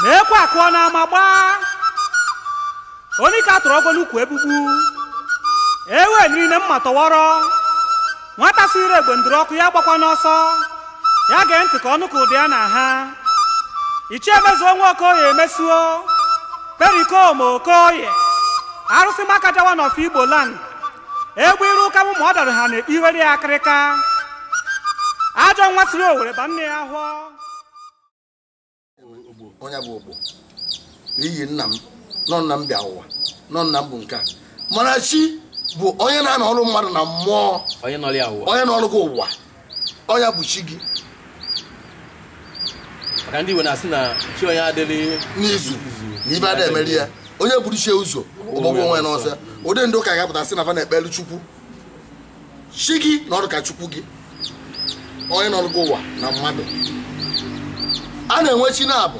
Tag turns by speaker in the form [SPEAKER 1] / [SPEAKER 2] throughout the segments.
[SPEAKER 1] na ekwe akụọ n'ama gbaa onye ka atụrụ ọgwọ n'ukwu egbugbu ewe niile mma tọwọrọ nwata siri egbe ndụrụ ọkụ ya agbakwana ọsọ ya gee ntị ka ọ nụkwa ụda ya nna anyị ichie Mezuo nwa Okoye Mesuo Perikoma Okoye arụsị Makaja one of Igbo land egbe iru ụka bụ ma ọ dara ha na-ekpe iwere ya akịrịka ajọ nwa siri owere ba nne ya
[SPEAKER 2] afọ onye bụ ogbo n'ihi nna m nọ nna m bịa ụwa nọ nna m bụ nke a mana chi bụ onye na-anọrụ mmadụ na mmụọ onye nọrụ gị ụwa ọ nya bụ chi
[SPEAKER 3] gị maka ndị Igbo na-asị na chi onye adịrọ n'izu
[SPEAKER 2] na ife ada emeri ya onye buru chi ya ụzọ ọ gbagbuo onwe ya n'ọsọ ụdị ndị ụka ga-apụta sị na fa na-ekpere chukwu chi gị na ọ dịka chukwu gị onye nọrụ gị ụwa na mmadụ a na-enwe chi naabọ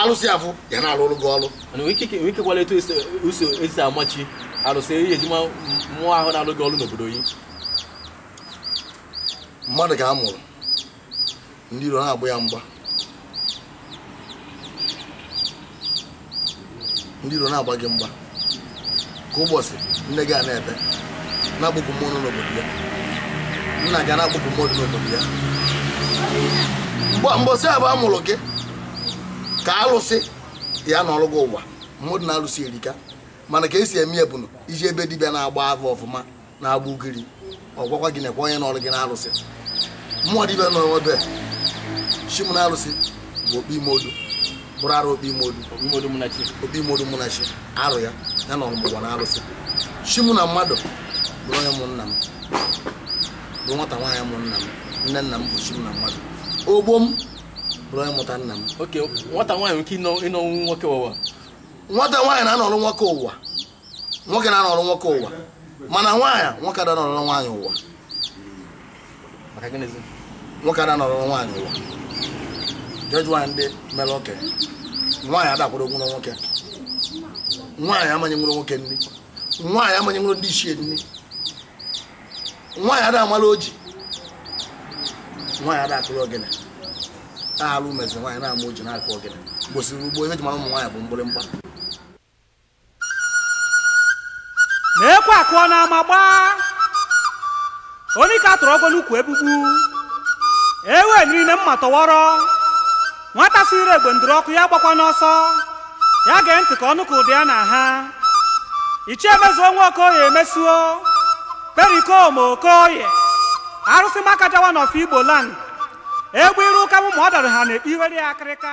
[SPEAKER 2] alụsị afụ ya na-alụrụ gị ọrụ kekwanụ
[SPEAKER 3] etu esi uso esi ama chi arụsị ihe eji ama mmụọ ahụ na-alụ gị ọrụ n'obodo yi
[SPEAKER 2] mmadụ ka a mụrụ ndị iro na-agba ya mgba ndị iro na-agba gị mgba ka mbọsị nne gị a na-ebe na-akpọku mmụọ nọ n'obodo ya nna gị na-akpọku mmụọ dị n'obodo ya mbọsị afụ a mụrụ gị ka alụsị ya nọrụ gị ụwa mmadụ na alụsị erika mana ka esi eme ya bụ na i jee be dibịa na-agba afa ọfụma na-agba ugiri ọ gwakwa gị nekwa onye nọrụ gị na alụsị mmụọ dibịa nọ ebe chi m na alụsị bụ okpi ime odu bụrụ arụ okpi ime odu mụ na chi arụ ya ya na ọmụgwọ na alụsị chi mụ na mmadụ bụrụ onye mụ nna m bụ nwata nwaanyị mụ nna m nne nna m bụ chi m na mmadụ ogbo m bụrụ onye mụta nna m Oke, nwata nwaanyị
[SPEAKER 3] nke ịnọ ịnọnwu nwoke ụwa. nwata nwaanyị
[SPEAKER 2] na-anọrụ nwoke ụwa nwoke na-anọrọ nwoke ụwa mana nwaanyị nwoke ada anọrọ nwaanyị ụwa nwoke ada anọrọ nwaanyị ụwa jee jụọ nwaanyị ndị mere okenye nwaanyị ada akwadonwurọ nwoke nwaanyị ama enyenwurọ nwoke nri nwaanyị ama enyenwurọ ndị ichie nri nwaanyị ada amala ọjị nwaanyị ada akụrụ ogene na alụ mezi nwaanyị na-ama ọjị na-akụ ogene mbọsị gboo ife eji mara ụmụ nwaanyị bụ mgbịrịmgba
[SPEAKER 1] na ekwe akụọ n'ama gbaa onye ka a tụrụ ọgwọ n'ukwu egbugbu ewe nri na mma tọwọrọ nwata si ire egbe ndụrụ ọkụ ya gbakwa n'ọsọ ya gee ntị ka ọ nụ ka ụda ya na-aha ichie mezuo nwa okoye mezuo pericoma okoye arụsị makaja one of igbo land egbe iru ụka mụ ma ọ dara ha na-ekpe iwere ya akịrịka